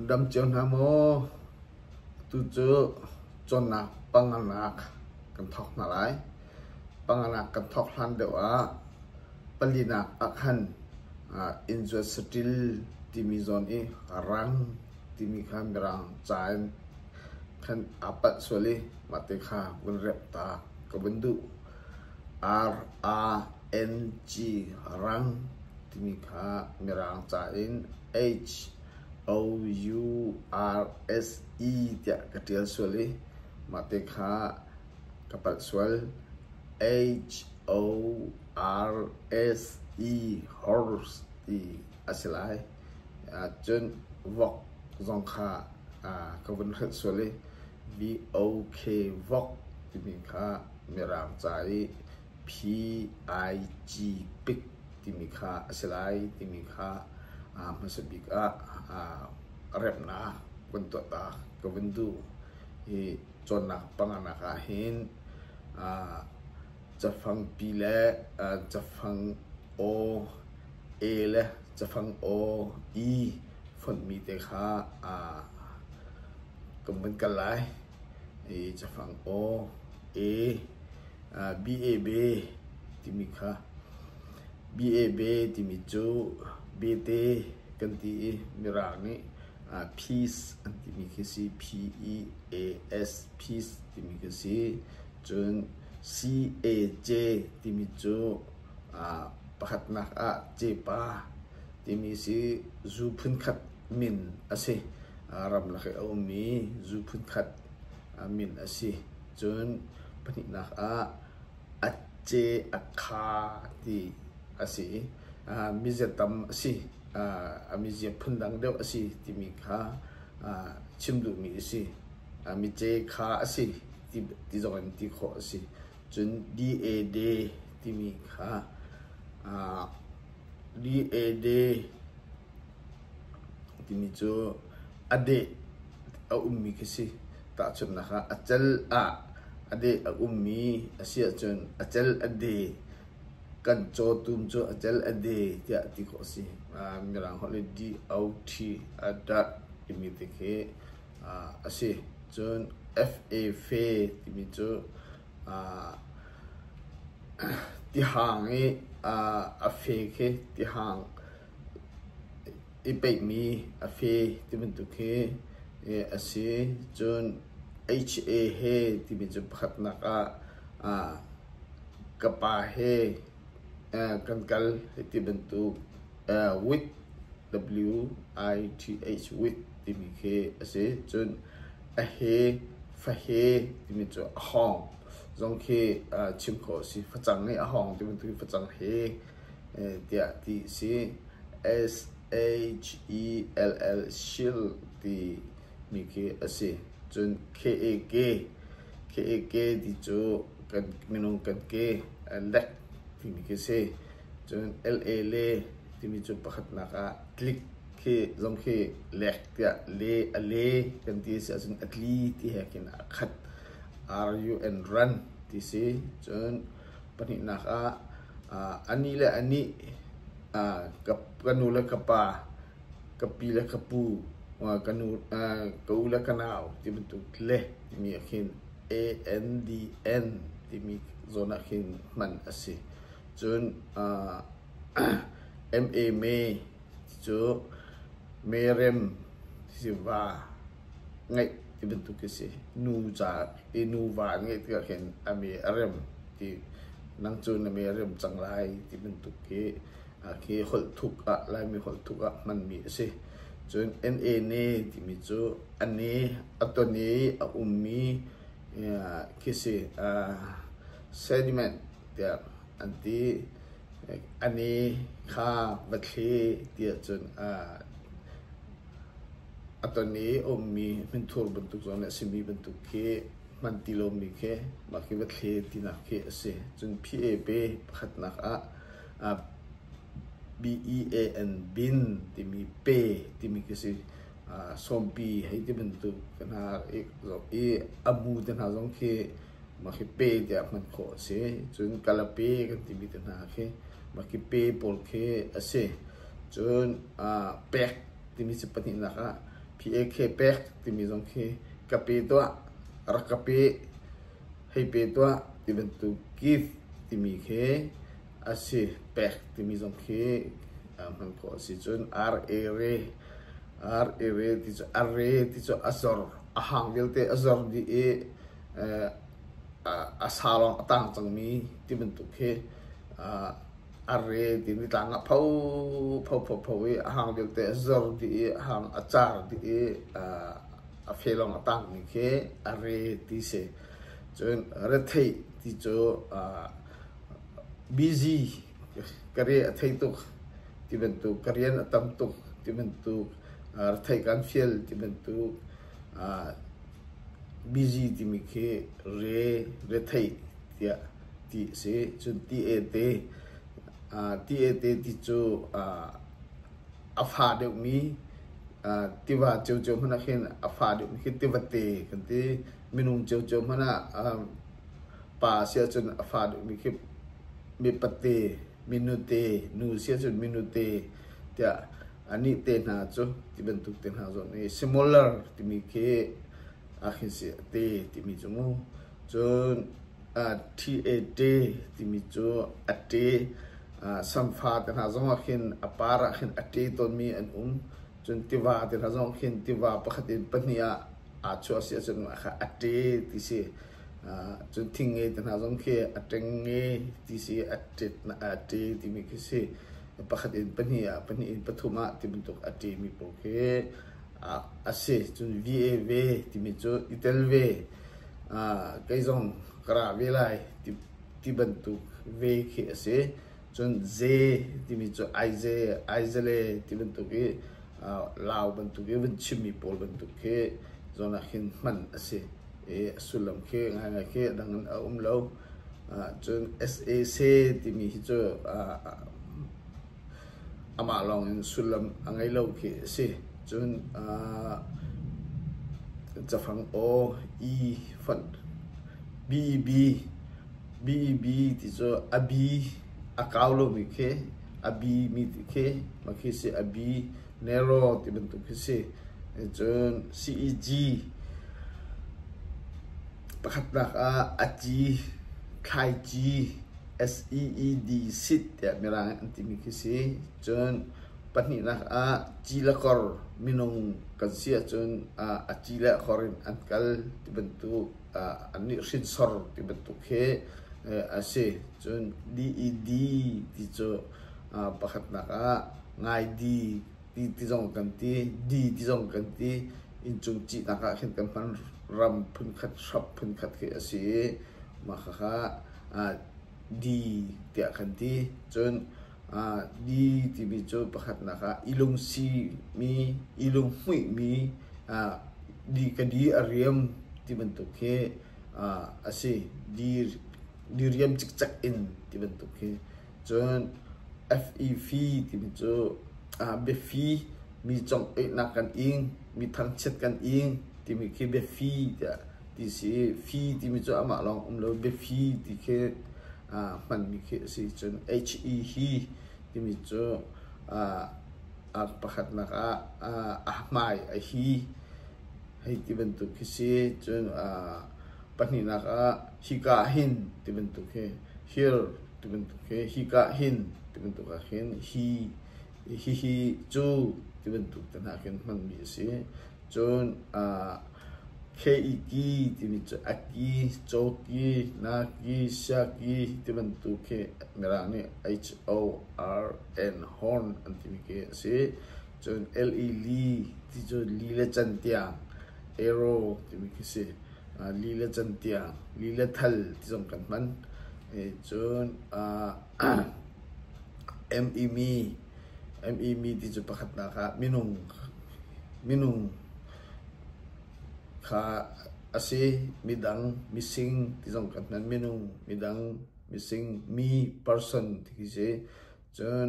Dam cio hna maw? Atu cu cawnnak panganak kan thawk hna lai. Panganak kan thawk hlan deuh ah palinak ahkhan inn zuat saṭil timi zawn i rang timi kha mirang ca in khan aa palh sual i mah te kha vun remh ta ka vun duh. RRNG rang timi kha mirang ca in HOURSE tiah ka ṭial sual i mahte kha ka palh sual. HORSE horse ti a si lai. Cun vok zong kha ka vun hrelh sual i VOK vok timi kha mirang ca i PIG pik timi kha a si lai timi kha hmasa bik ah remnak kan tuahtak ka vun duh. Hi cawnnak panga nak ahhin Cafangpi le cafang aw, e le cafang aw, i fonhmi te kha kan van kal lai. I cafang aw, e, be timi kha be timi cu bete kan ti i mirang nih peace an timi khi a si. P-E-A-S, peace timi khi a si. Cun CAJ timi cu pakhatnak ah cepa timi si zu phunkhat min a si. Ramlak i a ummi zu phunkhat min a si. Cun pahnihnak ah Acce Akha ti a si i miziatam a si. A mizia phundang deuh a si timi kha chim duhmi a si. mice kha a si ti zong in ti khawh a si. Cun DAD timi kha aa DAD timi cu a deh a ummi khi a si. Tahchunhnak ah, a cel ah a deh a ummi a si ahcun a cel a dee kan caw tum cu a cel a dee tiah ti khawh a si. Mirang holh le DOT a darh timi te khi a si. Cun Fa fe timi cu tihang i a fe khi tihang i peihmi a fe ti bantuk hi a si. Cun HA he timi cu pakhatnak ah ka pa he Kan kal hi ti bantuk WITH, W-I-T-H, WITH timi khi a si. Cun a he, fahe timi cu a hawng zong khi chim khawh a si. Facang i a hawng ti bantuk in facang he tiah ti a si. S-H-E-L-L, shield timi khi a si. Cun K-A-K Ka eke ti cu minung kan ke lek timi khi a si. Cun LA le timi cu pakhatnak ah tlik khi zong khi lek tiah le a le kan ti a si ahcun a tli ti he khin aa khat. R-U-N run ti si. Cun pahnihnak ah a ni le a nih ka nu le ka pa ka pi le ka pu, ka u le ka nau ti bantuk le timi ah khin A-N-D-N timi zawn ah khin hman a si. Cun M-A me ti cu merem ti si va ngeih ti bantuk a si. Nu ca i nu va an ngeih tikah khin a me a rem ti nang cu na merem cang lai ti bantuk hi Hi holh thuk ah, Laimi holh thuk ah hmanmi a si. Cun NANE timi cu a ne, a ton i a ummi khi a si sediment tiah an ti. A ne kha va thli tiah cun a ton i a ummi hminthur bantuk zawn le a simi bantuk khi hman ti lomi khi mah khi va thli tinak khi a si. Cun PAP pakhatnak ah B-E-A-N bin timi pe timi khi si. Sawmpi hei ti bantuk ka hna zoh i a bu te hna zong khi mah khi pe tiah hman khawh a si. Cun kalape kan timi te hna khi mah khi pe pawl khi a si. Cun pek timi si pahnihnak ah P-A-K pek timi zong khi ka pe tuah, rak ka pe. hei pe tuah ti bantuk give timi khi a si pek timi zong khi hman khawh a si cun arere arere ti cu are ti cu a zor a hang vialte a zor dih i a sa lawng a tang cangmi ti bantuk khi a re timi tlang ah phophopho i a hang deuhte a zor dih i a hang a car dih i a fe lawng a tangmi khi a re ti si. Cun retheih ti cu busy ka re a thei tuk ti bantuk, ka rian a tam tuk ti bantuk, retheih kan fial ti bantuk, busy timi khi re, retheih tiah. ti a si. Cun ti-ete, ti-ete ti cu a fa deuhmi tiva ciocio hmanh ah khin a fa deuhmi khi tivate kan ti. Minung ciocio hmanh ah pa si ahcun a fa deuhmi khi mipate, minute, nu si ahcun minute tiah anih te hna cu ti bantuk te hna zawn i similar timi khi a khin si a ti timi cu mu. Cun Ṭhi-e-ṭe timi cu a ṭe, samfa te hna zong ah khin a par ah khin a ṭe tawnmi an um. Cun tiva te hna zong ah khin tiva pakhat in pahnih ah aa chuah a si ahcun mah kha a ṭe ti si. Cun thingngei te hna zong khi a ṭengnge ti si, a ṭe timi khi si. Pakhat in pahnih ah, pahnih in pathum ah ti bantuk a ṭemi pawl khi a si. Cun vi-e-ve timi cu i tel ve. kei zong ka ra ve lai ti bantuk ve khi a si. Cun ze timi cu Aizale ti bantuk i Lau bantuk i vun chimmi pawl bantuk khi zawn ah hin hman a si i a sullam khi ngaingai khi dang in a um lo. Cun sac timi hi cu Amah lawngin sullam a ngei lo khi a si. Cun aa cafang aw, i fonh, bb, bb ti cu a bi, a kau lomi khi, a bimi ti khi, mah khi a si. A bi, narrow ti bantuk khi a si. Cun ceg pakhatnak ah a ci, thlaici. SEED sit tiah mirang an timi khi si. Cun pahnihnak ah ci le kor minung kan si ahcun ah a ci le a kor in an kal ti bantuk ah annih hrinsor ti bantuk khi a si. Cun DED ti cu pakhatnak ah ngai di Pi ti zong kan ti, di ti zong kan ti. Inncung cihnak ah khin kan hman ram phunkhat, shrop phunkhat khi a si i mah khakha ah di tiah kan ti. Cun ah di timi cu pakhatnak ah ilung simi, ilung hmuihmi ah di ka di a riam ti bantuk khi ah a si. Di, di riam cikcek in ti bantuk khi Cun FEV timi cu biafi, mi congoihnak kan ing, mi thangchiat kan ing timi khi biafi tiah ti a si i fi timi cu amah lawng um lo biafi ti khi hmanmi khi a si. Cun HE hi timi cu pakhatnak ah a hmai a hi hei ti bantuk khi si. Cun pahnihnak ah hika ah hin ti bantuk hi hir. tibantuk hi hika hin tibantuk ah khin hi hihi cu tibantuk te hna khin hmanmi a si cun ah KET timi cu aki, cawki, naki, siaki tibantuk khi mirang nih H-O-R-N horn an timi khi a si cun L-E li ti cu li le can tiang arrow timi khi si li le can tiang li le thal ti zong kan hman Cun ME ti cu pakhatnak ah minung kha a si. Midang, mising ti zong kan hman. Minung, midang, mising, mi, person ti khi a si. Cun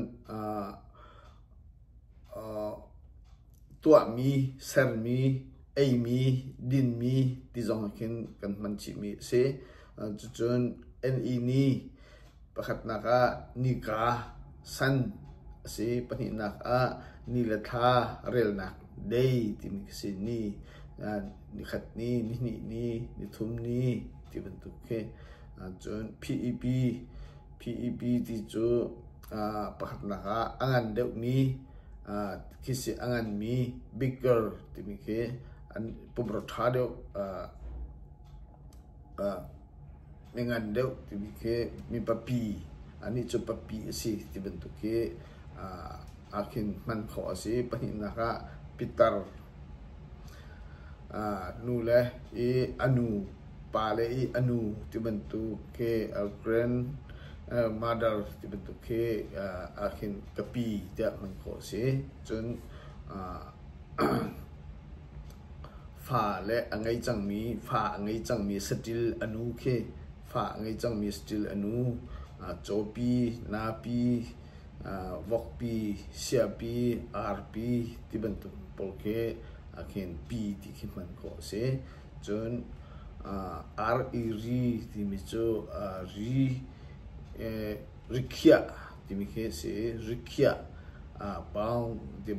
tuahmi, sermi, eimi, dinmi ti zong ah khin kan hman chihmi a si. Cucun NENI pakhatnak ah nika san a si, pahnihnak ah ni le thla relnak day timi ka si ni nikhat ni, nihnih ni, nithum ni ti bantuk khi. Cun PEP, PEP ti cu pakhatnak ah a ngan deuhmi khi si a nganmi bigger timi khi an pumrua ṭha deuh mi ngan deuh timi khi mi papi anih cu papi a si ti bantuk khi aa khin hman khawh a si. Pahnihnak ah pitar nu le i a nu pale i a nu ti bantuk khi a grandmother ti bantuk khi ahhin ka pi tiah man khawh a si. Cun fale a ngei cangmi fa a ngei cangmi saṭil a nu khi fa a ngei cangmi saṭil a nu cawpi, napi, vokpi, siapi, arpi ti bantuk pawl khi ahhin pi ti khi hman khawh a si. Cun ar i ri timi cu ri rikhiah timi khi a si i rikhiah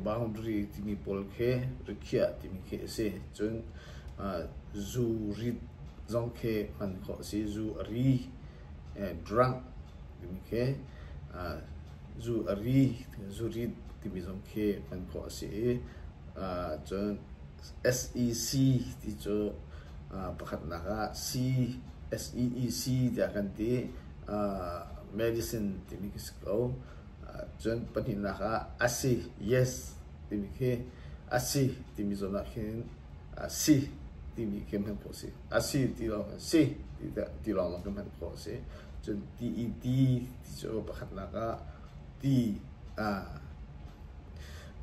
boundary timi pawl khi rikhiah timi khi a si. Cun zu rit zong khi hman khawh a si. Zu a ri drunk timi khi zu a ri, zu rit timi zong khi hman khawh a si i cun SEC ti cu pakhatnak ah CSEEC tiah kan ti. medicine timi khi si ko. Cun pahnihnak ah asi, yes timi khi asi timi zawn ah khin si timi khi hman khawh a si. Asi ti lawng khin si ti lawng khin hman khawh a si. Cun TED ti cu pakhatnak ah ti aa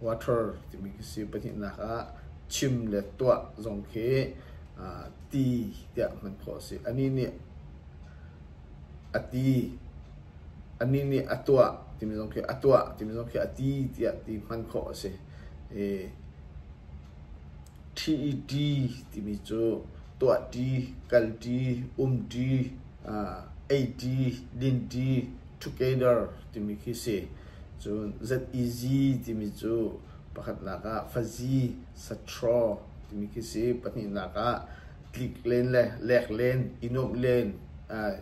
water timi khi si. Pahnihnak ah chim le tuah zong khi aa ti tiah hman khawh a si. Anih nih a ti, anih nih a tuah timi zong khi a tuah timi zong khi a ti tiah ti hman khawh a si. I TED timi cu tuahṭi, kalṭi, umṭi, aa eiṭi, linṭi together timi khi si. Cun Z-easy timi cu pakhatnak ah fazi, satraw timi khi si. Pahnihnak ah tlik len le lek len, i nuamh len, aa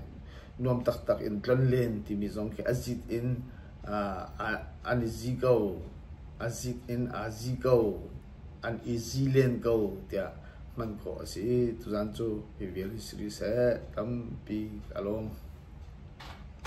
nuam taktak in tlon len timi zong khi a zit in aa an i zi ko. A zit in aa zi ko. An i zi len ko tiah hman khawh a si i tuzan cu hi vial hi si rih seh tampi ka lawm.